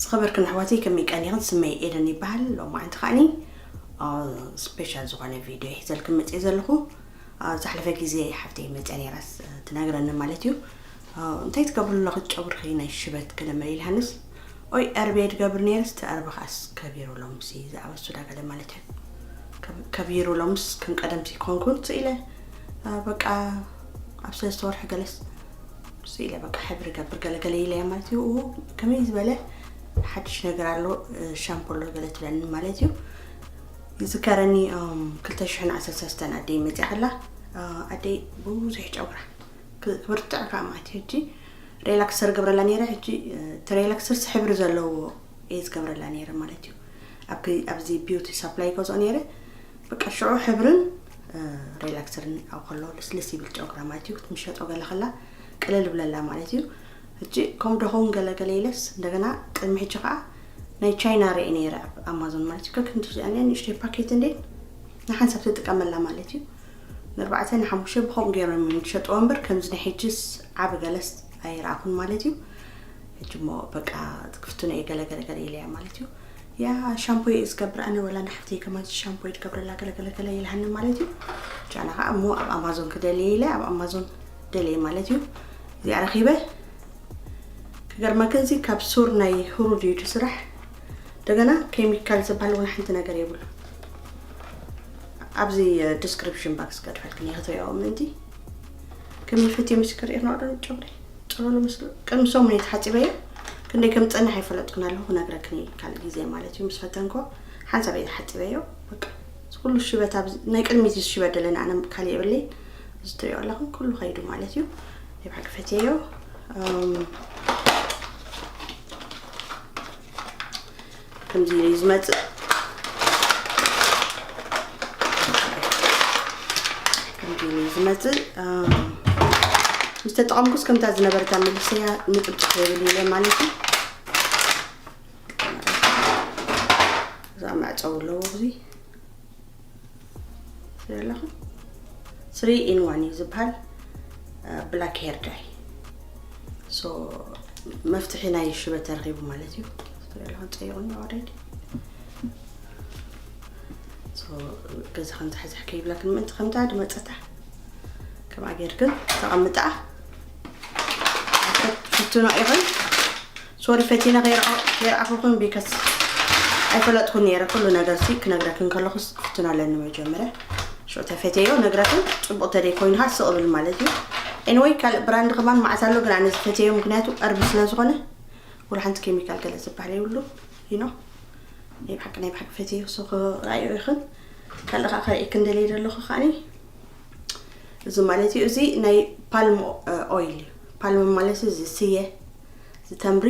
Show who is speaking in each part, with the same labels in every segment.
Speaker 1: ዝኸበርክን ኣሕዋተይ ከመይ ቀኒኽን ስመይ ኤደን ይበሃል ሎማዓንቲ ከዓኒ ስፔሻል ዝኾነ ቪድዮ ሒዘልክን መፅኤ ዘለኹ ዝሓለፈ ግዜ ሓፍተይ መፅያ ነይራስ ትነግረኒ ማለት እዩ እንታይ ትገብሩ ኣለኹ ጨጉርኺ ናይ ሽበት ክለመ ኢልሃንስ ኦይ ዕርቤ ድገብር ነይርስ ተዕርቢ ከዓስ ከቢሩ ሎምሲ ዝኣበሱ ዳገለ ማለት እዩ ከቢሩ ሎምስ ከም ቀደምሲ ክኾንኩን ስኢለ በቃ ኣብ ሰለስተ ወርሒ ገለስ ስኢለ በቃ ሕብሪ ገብር ገለ ገለ ኢለያ ማለት እዩ እዎ ከመይ ዝበለ ሓድሽ ነገር ኣሎ ሻምፖ ኣሎ ገለ ትብለኒ ማለት እዩ ይዝከረኒ 213 ኣደይ መፅያ ከላ ኣደይ ብዙሕ ጨጉራ ክብርትዕ ከዓ ማለት እዩ ሕጂ ሬላክሰር ገብረላ ነይረ ሕጂ እቲ ሬላክሰርስ ሕብሪ ዘለዎ እየ ዝገብረላ ነይረ ማለት እዩ ኣብዚ ቢዩቲ ሳፕላይ ይገዝኦ ነይረ በቃ ሽዑ ሕብርን ሬላክሰርን ኣብ ከሎ ልስልስ ይብል ጨጉራ ማለት እዩ ክትምሸጦ ገለ ከላ ቅልል ብለላ ማለት እዩ ሕጂ ከምኡ ደኸውን ገለገለ ኢለስ እንደገና ቅድሚ ሕጂ ከዓ ናይ ቻይና ርኢ ነይረ ኣብ ኣማዞን ማለት እዩ ከክንዲ ዚኣንያ ንእሽተይ ፓኬት እንዴ ንሓንሳብ ትጥቀመላ ማለት እዩ ንርባዕተ ንሓሙሽተ ብከምኡ ገይሮም እዮም ዝሸጥዎ እምበር ከምዚ ናይ ሕጅስ ዓብ ገለስ ኣይረኣኹን ማለት እዩ ሕጂ እሞ በቃ ክፍትኖ እየ ገለገለገለ ኢለያ ማለት እዩ ያኣ ሻምፖ እየ ዝገብር ኣነ ወላ ንሓፍተይ ከማንሲ ሻምፖ እየ ትገብረላ ገለገለገለ ይልሃኒ ማለት እዩ ጃና ከዓ እሞ ኣብ ኣማዞን ክደልየ ኢለ ኣብ ኣማዞን ደልየ ማለት እዩ እዚኣ ረኺበ ክገርመክን እዚ ካብ ሱር ናይ ህሩድ እዩ ስራሕ እንደገና ኬሚካል ዝበሃል እውን ሓንቲ ነገር የብሉ ኣብዚ ዲስክሪፕሽን ባክስ ገድፈልክን እየ ክትሪኦ ምእንቲ ከምልፍት የምስክር ኢኽኖ ዶ ጨጉሪ ጥሎሎ ምስ ቅድሚ ሰሙን እየ ተሓፂበዮ ክንደይ ከም ዝፀንሕ ኣይፈለጥኩን ኣለኹ ክነግረክን እየ ካልእ ግዜ ማለት እዩ ምስ ፈተንኮ ሓንሳብ እየ ተሓፂበዮ በቃ እዚ ኩሉ ሽበት ኣብ ናይ ቅድሚት እዩ ዝሽበት ደለና ኣነ ካልእ የብለይ እዚ ትሪኦ ኣለኹም ኩሉ ከይዱ ማለት እዩ ናይ ባዕሉ ፈትየዮ ከምዚ ኢለ እዩ ዝመፅእ ከምዚ ኢለ እዩ ዝመፅእ ምስ ተጠቐምኩስ ከምታ ዝነበረታ መልሰያ ንጥብጥፍ የብል ኢለ ማለት እዩ እዛ መዕፀው ኣለዎ እዙይ ኣለኹ ስሪ ኢን ዋን እዩ ዝበሃል ብላክ ሄር ዳይ ሶ መፍትሒ ናይ ሽበት ተረኺቡ ማለት እዩ ኣለኹ ፀይቑኒ ኦልሬዲ ገዛ ከምዝሕዝሕ ከይብለክን ምእንቲ ከምታ ድመፀታ ከምኣ ጌርክን ተቐምጣ ሽቱና ይኹን ሶሪ ፈቲነ ከይረኣኹክን ቢከስ ኣይፈለጥኩን ነይረ ኩሉ ነገር ሲ ክነግረክን ከለኹስ ክፍትን ኣለኒ መጀመርያ ሾተ ፈቴዮ ነግረክን ፅቡቅ ተደይ ኮይኑ ካ ስቅ ብል ማለት እዩ ኤንወይ ካልእ ብራንድ ከማን መዓት ኣሎ ግን ኣነ ዝፈቴዮ ምክንያቱ ቀርቢ ስለ ዝኾነ ወላ ሓንቲ ኬሚካል ገለ ዝበሃል ይብሉ ይኖ ናይ ብሓቂ ናይ ብሓቂ ፈቴዮ ሶ ክረኣዮ ይኽን ካልእ ከዓ ከርእየክን ደልየ ዘለኹ ከዓኒ እዚ ማለት እዩ እዚ ናይ ፓልም ኦይል እዩ ፓልም ማለት እዚ ስየ ዝተምሪ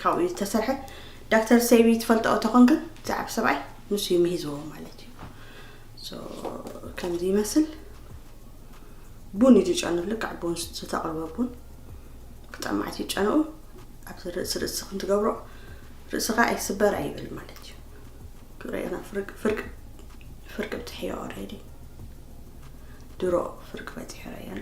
Speaker 1: ካብኡ ዝተሰርሐ ዳክተር ሰይቢ ትፈልጠኦ ተኾንክ ዝዓብ ሰብኣይ ንሱ እዩ ምሂዝዎ ማለት እዩ ከምዚ ይመስል ቡን እዩ ዝጨኑ ልክዕ ቡን ዝተቕርበ ቡን ክጠማዕት እዩ ጨንኡ ኣብዚ ርእሲ ርእሲ ክንትገብሮ ርእስኻ ኣይስበር ኣይብል ማለት እዩ ክርእና ፍርቅ ፍርቅ ፍርቅ ብትሕዮ ኦሬዲ ድሮ ፍርቅ በፂሑ ረየሎ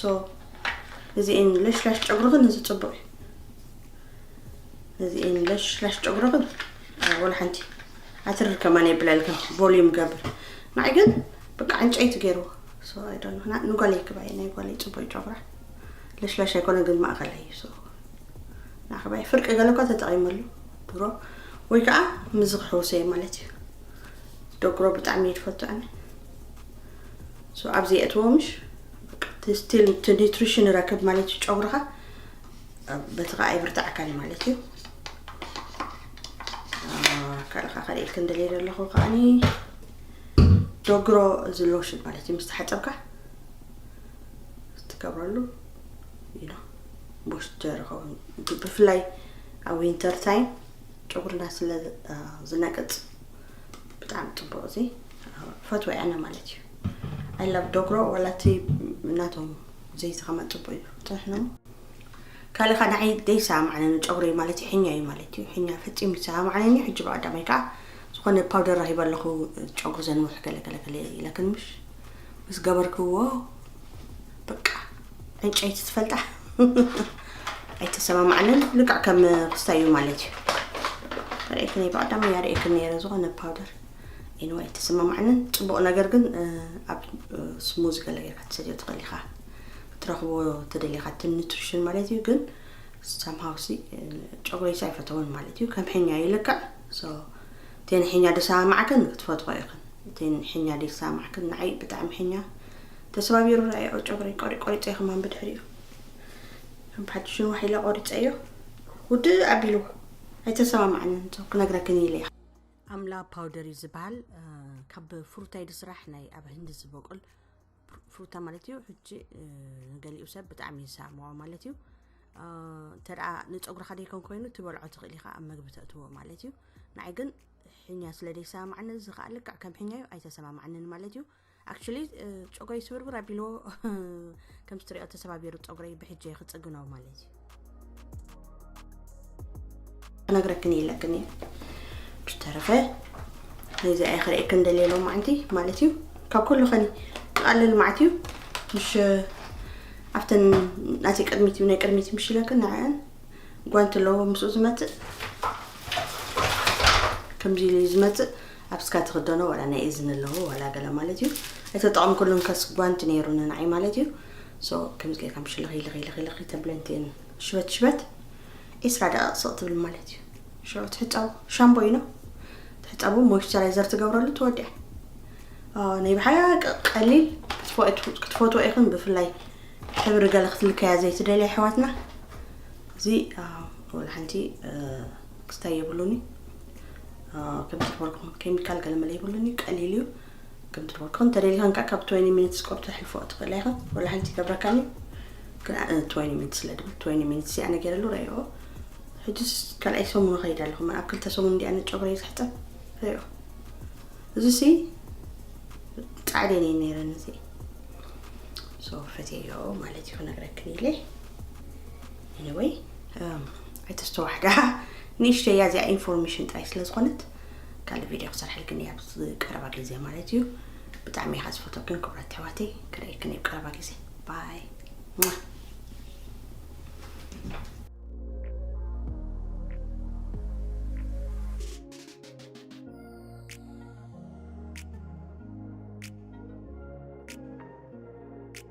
Speaker 1: ሶ እዚ ን ለሽላሽ ጨጉርኽን እዚ ፅቡቅ እዩ እዚ ን ለሽላሽ ጨጉርኽን ወላ ሓንቲ ኣትርር ከማን የብለልክን ቮሊዩም ገብር ንዓይ ግን በቃ ዕንጨይቲ ገይርዎ ሶ ኣይዶን ምክና ንጓለይ ክባየ ናይ ጓለይ ፅቡቅ ጨጉራ ለሽላሽ ኣይኮነ ግን ማእኸል እዩ ሶ ንዓክባየ ፍርቂ ገለ እኳ ተጠቂመሉ ድሮ ወይ ከዓ ምዚ ክሕውሰ እዩ ማለት እዩ ደጉሮ ብጣዕሚ እዩ ዝፈቱ ኣነ ሶ ኣብዚ የእትዎ ምሽ ስቲል እቲ ኒትሪሽን ረክብ ማለት እዩ ጨጉርኻ በቲ ከዓ ይብርታዕካል ማለት እዩ ካልኻ ካልእ ኢልክ እንደልየ ዘለኹ ከዓኒ ዶግሮ እዚ ሎሽን ማለት እዩ ምስ ተሓፀብካ ትገብረሉ ኢሎ ቦሽጀር ይኸውን ብፍላይ ኣብ ዊንተር ታይም ጨጉርና ስለ ዝነቅፅ ብጣዕሚ ፅቡቅ እዚ ፈትወ ኣነ ማለት እዩ ኣይላብ ዶግሮ ወላ እቲ ናቶም ዘይዚ ከማ ፅቡቅ እዩ ፅሕኑ ካልእ ካ ንዓይ ዘይሰማዕነኒ ጨጉሪ ማለት እዩ ሕኛ እዩ ማለት እዩ ሕኛ ፈፂሙ ይሰማዕነኒ ሕጂ ብቀዳማይ ከዓ ዝኾነ ፓውደር ራሂበ ኣለኹ ጨጉሪ ዘንውሕ ገለገለገለ ኢለክን ምሽ ምስ ገበርክዎ በቃ ዕንጨይቲ ትፈልጣ ኣይተሰማማዕንን ልክዕ ከም ክስታይ እዩ ማለት እዩ ርእክኒ ብቀዳማይ እያ ርእክን ነይረ ዝኾነ ፓውደር ኤኒወይ ኣይተሰማማዕንን ጽቡቅ ነገር ግን ኣብ ስሙዝ ገለ ጌርካ ትሰድዮ ትኽእል ኢኻ ክትረኽቦ ተደሊኻ እቲ ኒትሪሽን ማለት እዩ ግን ሳምሃው ሲ ጨጉረይሲ ኣይፈተውን ማለት እዩ ከም ሕኛ እዩ ልክዕ ሶ እተን ሕኛ ደሰማማዕክን ክትፈትሖ ኢኽን እተን ሕኛ ደሰማማዕክን ንዓይ ብጣዕሚ ሕኛ ተሰባቢሩ ርኣዮ ጨጉረይ ቆሪ ቆሪፀ ከማን ብድሕሪኡ ከም ብሓድሽ ንዋሕ ኢለ ቆሪፀዮ ውድእ ኣቢልዎ ኣይተሰማማዕንን ክነግረክን ኢለ ኣምላ ፓውደር እዩ ዝበሃል ካብ ፍሩታ ኢዩ ዝስራሕ ናይ ኣብ ህንዲ ዝበቁል ፍሩታ ማለት እዩ ሕጂ ንገሊኡ ሰብ ብጣዕሚ ይሳምዖ ማለት እዩ እንተ ንፀጉርካ ደይኮን ኮይኑ ትበልዖ ትኽእል ኢኻ ኣብ መግቢ ተእትዎ ማለት እዩ ንዓይ ግን ሕኛ ስለ ደይሰማማዕኒ እዚ ከዓ ልክዕ ከም ሕኛ እዩ ኣይተሰማማዕንን ማለት እዩ ኣክቹሊ ፀጉረይ ስብርብር ኣቢልዎ ከምዚ ትሪኦ ተሰባቢሩ ፀጉረይ ብሕጂ ክፅግኖ ማለት እዩ ክነግረክን የለክን እዩ ብዝተረፈ ነዚ ኣይ ክርእክን ደልየ ሎም ማዓንቲ ማለት እዩ ካብ ኩሉ ከኒ ዝቐልል ማዓት እዩ ምሽ ኣብተን ናተይ ቅድሚት እዩ ናይ ቅድሚት ምሽ ኢለክን ንዕአን ጓንቲ ኣለዎ ምስኡ ዝመፅእ ከምዚ ኢሉ ዝመፅእ ኣብ ስጋ ትክደኖ ዋላ ናይ እዝኒ ኣለዎ ዋላ ገለ ማለት እዩ ኣይተጠቐምኩሉን ከስ ጓንቲ ነይሩ ንናዓይ ማለት እዩ ሶ ከምዚ ጌርካ ምሽ ልኺ ልኺ ልኺ ልኺ ተብለንቲን ሽበት ሽበት ዒስራ ደቂቕ ስቕ ትብል ማለት እዩ ሾ ትሕፀቡ ሻምቦ እዩ ነው ትሕፀቡ ሞይስቸራይዘር ትገብረሉ ትወዲያ ናይ ብሓቂ ቀሊል ክትፈትዎ ኢኹም ብፍላይ ሕብሪ ገለ ክትልከያ ዘይትደልያ ኣሕዋትና እዚ ወላ ሓንቲ ክስታይ የብሉን እዩ ከምቲ ዝበልኩ ኬሚካል ገለ መለ የብሉን እዩ ቀሊል እዩ ከምቲ ዝበልኩ እንተደሊኻን ከዓ ካብ 20 ሚኒትስ ቆርብ ተሕልፎ ትኽእላ ኢኻ ወላ ሓንቲ ይገብረካን እዩ ግን 20 ሚኒት ስለ ድብል 20 ሚኒት እዚኣ ነገረሉ ረዮ ሕጅስ ካልኣይ ሰሙን ኸይድ ኣለኹ ኣብ ክልተ ሰሙን እንዲኣ ንጨጉረይ ዝሕጠብ ረዮ እዚ ሲ ፃዕደን እዩ ነይረን እዚ ሰው ፈትየዮ ማለት እዩ ክነግረክን ኢለ ኤኒወይ ኣይተስተዋሕዳ ንእሽተይ እያ እዚኣ ኢንፎርሜሽን ጥራይ ስለ ዝኾነት ካልእ ቪድዮ ክሰርሐልክን እያ ኣብዚ ቀረባ ግዜ ማለት እዩ ብጣዕሚ እየ ዝፈተክን ክብራት ኣሕዋተይ ክርእየክን እየ ቀረባ ግዜ ባይ